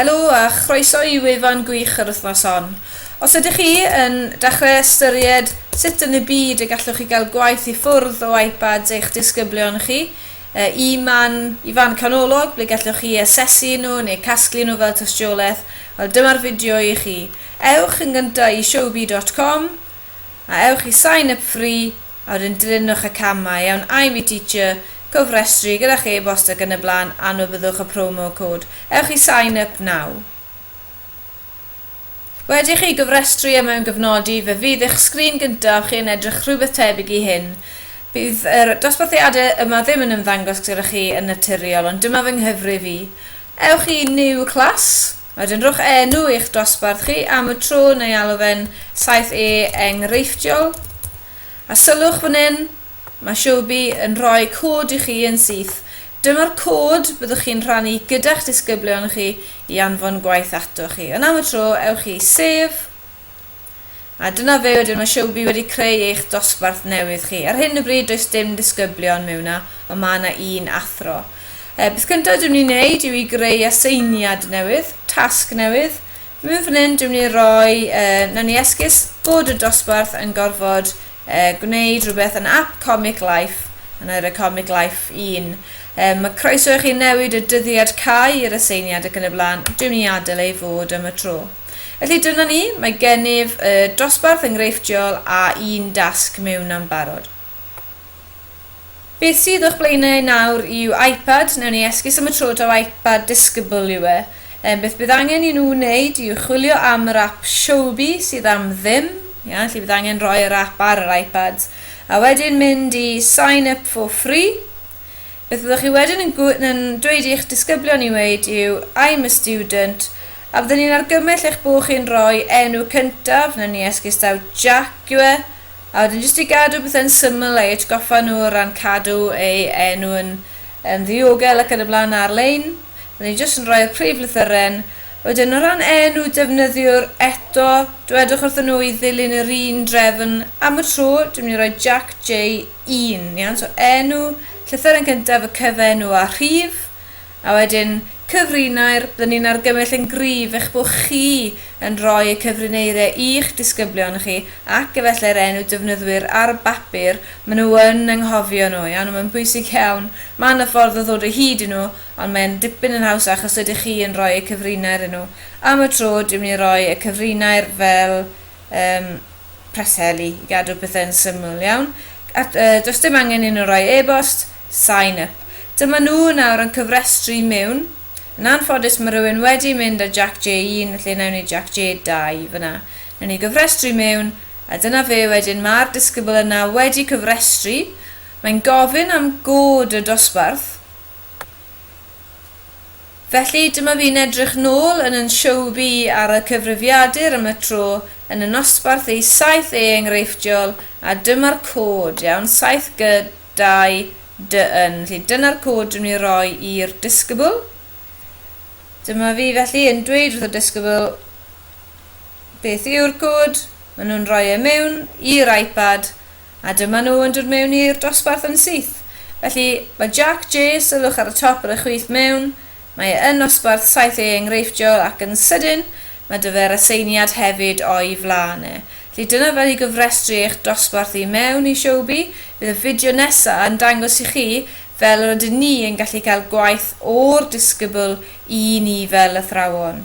Helo a chroeso i wefan gwych yr wythnos hon. Os ydych chi yn dechrau ystyried sut yn y byd y gallwch chi gael gwaith i ffwrdd o iPads eich disgyblion chi, y man i fan canolog ble gallwch chi eu asesu nhw neu casglu nhw fel tystiolaeth, wel dyma'r fideo i chi. Ewch yn gyntaf i showbee dot com, A ewch i sign up free a wedyn dilynwch y camau, iawn, I'm a teacher, cofrestru gyda'ch e-bost ac yn y blaen, anwybydwch y promo code. Ewch i sign up now. Wedi i chi gofrestru a mewn gofnodi, fe fydd eich sgrin gyntaf chi yn edrych rhywbeth tebyg i hyn. Bydd yr dosbarthiadau yma ddim yn ymddangos gyda chi yn naturiol, ond dyma fy nghyfrif i. Ewch i New Class. Wedyn rhowch enw i'ch dosbarth chi am y tro neu alw fe'n 7E enghreifftiol. A sylwch fan hyn, mae Showbie yn rhoi cod i chi yn syth. Dyma'r cod byddwch chi'n rhannu gyda'ch disgyblion chi i anfon gwaith atoch chi. Ond am y tro, ewch i Save. A dyna fe wedyn, mae Showbie wedi creu eich dosbarth newydd chi. Ar hyn o bryd does dim disgyblion mewn 'na, ond mae 'na un athro. E, beth cyntaf dwi'n mynd i wneud yw i greu aseiniad newydd, tasg newydd. Mewn fan hyn dwi'n mynd i roi, e, nawn ni esgus bod y dosbarth yn gorfod e, gwneud rhywbeth yn app Comic Life, a na i roi Comic Life 1. E, mae croeso i chi newid y dyddiad cau i'r aseiniad ac yn y blaen, dwi'n mynd i adael ei fod am y tro. Felly dyna ni, mae gennyf y dosbarth enghreifftiol a un dasg mewn am barod. Beth sydd o'ch blaenau nawr yw iPad, newn ni esgus am y tro taw iPad disgybl yw e. Yym, beth bydd angen i nhw wneud yw chwilio am yr ap Showbie sydd am ddim, ia, felly bydd angen rhoi yr ap ar yr iPads, a wedyn mynd i Sign Up for Free. Beth fyddwch chi wedyn yn, yn dweud i'ch disgyblion i weud yw I'm a student, A byddwn i'n argymell eich bod chi'n rhoi enw cyntaf, wnawn ni esgus taw Jack yw e, a wedyn jyst i gadw pethau'n syml a'i atgoffa nhw o ran cadw ei enw yn yn ddiogel ac yn y blaen ar-lein. Byddwn i jyst yn rhoi'r prif lythyren. Wedyn o ran enw defnyddiwr, eto, dwedwch wrthyn nhw i ddilyn yr un drefn. Am y tro, dwi'n mynd i roi Jack J1, iawn? So enw, llythyren cyntaf, y cyfenw a rhif. A wedyn, cyfrinair, byddwn ni'n argymell yn gryf eich bod chi yn rhoi y cyfrineiriau i'ch disgyblion chi ac efallai'r enw defnyddwyr ar y bapur, maen nhw yn anghofio nhw, iawn, a mae'n bwysig iawn, mae 'na ffordd o ddod o hyd i nhw, ond mae'n dipyn yn haws achos ydych chi yn rhoi y cyfrinair i nhw. Am y tro, dwi'n mynd i roi y cyfrinair fel, yym, Preseli i gadw pethau'n syml iawn. At, uh, does dim angen un o roi e-bost, sign up. Dyma nhw nawr yn cyfrestru mewn. Yn anffodus mae rhywun wedi mynd a Jack J1 felly nawn ni Jack J2 fyna. Nawn ni gyfrestru mewn a dyna fe wedyn mae'r disgybl yna wedi cyfrestru. Mae'n gofyn am god y dosbarth. Felly, dyma fi'n edrych nôl yn yn sioe bi ar y cyfrifiadur am y tro yn y nosbarth ei saith e enghreifftiol a dyma'r cod, iawn, saith gy, dau, dy, yn. Felly, dyna'r cod dwi'n mynd i roi i'r disgybl. Dyma fi felly yn dweud wrth y disgybl beth yw'r cod, maen nhw'n rhoi e mewn i'r iPad A dyma nhw yn dod mewn i'r dosbarth yn syth. Felly, mae Jac J, sylwch ar y top ar y chwith mewn, mae e yn nosbarth saith A enghreifftiol ac yn sydyn, mae 'da fe'r aseiniad hefyd o'i flaen e. Felly, dyna fel i gofrestru eich dosbarth i mewn i Showbie. Bydd y fideo nesa' yn dangos i chi fel yr ydyn ni yn gallu cael gwaith o'r disgybl i ni fel athrawon.